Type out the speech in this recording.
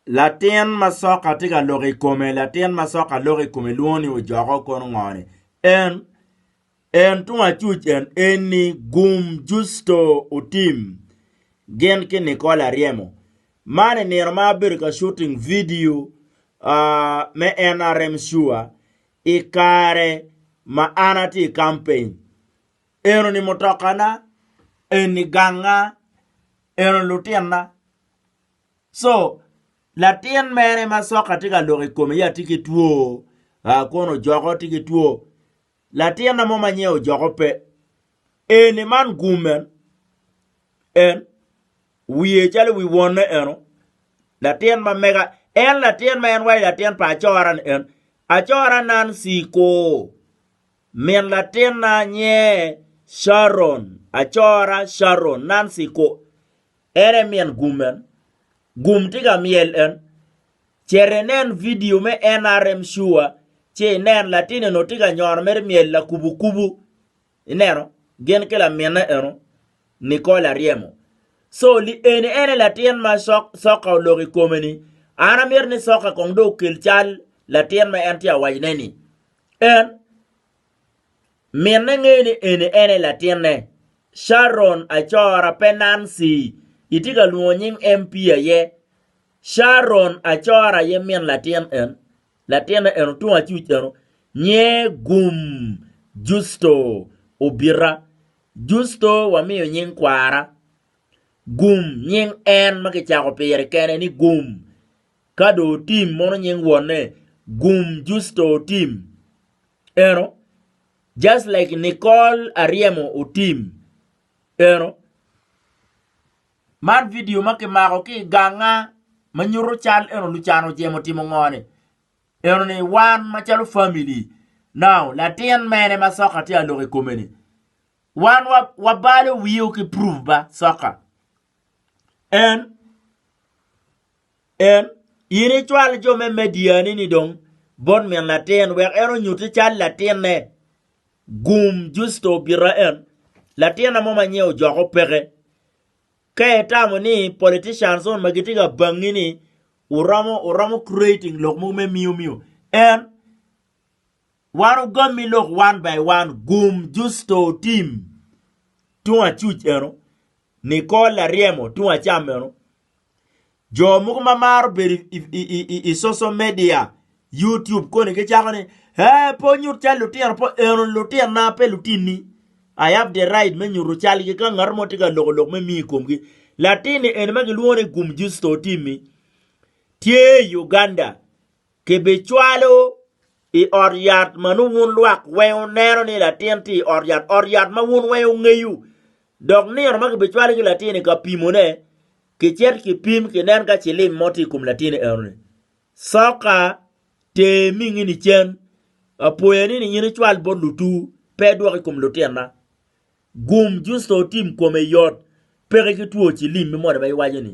Latin ma soka tye ka loko i kome, latin ma soka loko i kome lwongo ni ojoko kono ngone. En en tung acuc en eni Gum Justo Otim gin ki Nicole Aryemo. Man i nino ma abedo ka shooting video uh, me NRM Sure i kare ma an atye i campaign. Eno ni mutokana, eni ganga, eno lutinna, So, latin mere ma soka tye ka lok i kome ya tye ki two, ah, kono ojoko tye ki two. Latinna mo ma nyinge ojoko pe, eni man gum en, en wiye calo wi wonne eno, latin ma mega, en latin ma en waco latin pa acora-ni en, acora Nancy ko, min latinna nyinge Sharon, acora Sharon, Nancy ko, En e min gum en. Gum tye ka myel en. Cito inen vidio me NRM Sure ci inen latin eno tye ka nyono mere myel lakubukubu. Ineno? Gin ki laminne eno, Nicole Aryemo. So, li eni en aye latin ma sok, soka oloko i kome-ni. An amito ni soka kong dong okel cal latin ma en tye ka wacone-ni. En. Minne ngeyo ni eni en aye latinne. Sharon Acora pe Nancy, itye ka lwongo nying MP aye. Sharon Acora aye min latin en. Latinne eno tung acuc eno nyer gum Justo Obita. Justo wamiyo nying kwara. Gum nying en ma kicako pire kene ni gum. Ka dong otim mono nying wonne gum Justo otim eno just like Nicole Ariemo otim eno. Man video ma kimako ki i ganga ma nyuto cal eno Lucan ojemo timo ngo ni? Eno ni wan macalo family now latin mene ma soka tye ka lok i kome ni wan wabalo wio ki proof ba soka En, en, in icwal jo me Mediani ni dong bot min latin wek en onyutti cal latinne. Gum Justo obita en, latinna mo ma nyinge ojoko peke. Ka itamo ni politicians on ma gitye ka bangi ni uromo uromo creating lok mogo me miyo miyo, en, Wan ogommi lok one by one gum Justo Tim tung acuc eno, Nicole Laryemo tung acam eno. Jo mogo ma maro bedo i, i, i, i, i social media, YouTube koni gicako ni, eh, pe onyut cal lutino, pe eno lutinna, pe lutinni. I have the right me nyuto calgi ka ngat mo tye ka loko lok me mi i komgi. Latinni eni ma gilwongo ni gum Justo Tim-mi tye i Uganda. Kibicwalo i ot yat ma nongo wun lwak weng wuneno ni latin tye i ot yat, ot yat ma wun weng wungeyo. Dok nino ma kibicwalo ki latin-ni ka pimone, kicito kipim kinen ka cilim mo tye i kom latin eno-ni. Soka ter mingini cen. Apoya ni ninyini cwal bot lutur, pe idwok i kom lutinna. Gum justo otim kome yot, peke ki two cilim me moni ma iwaco-ni.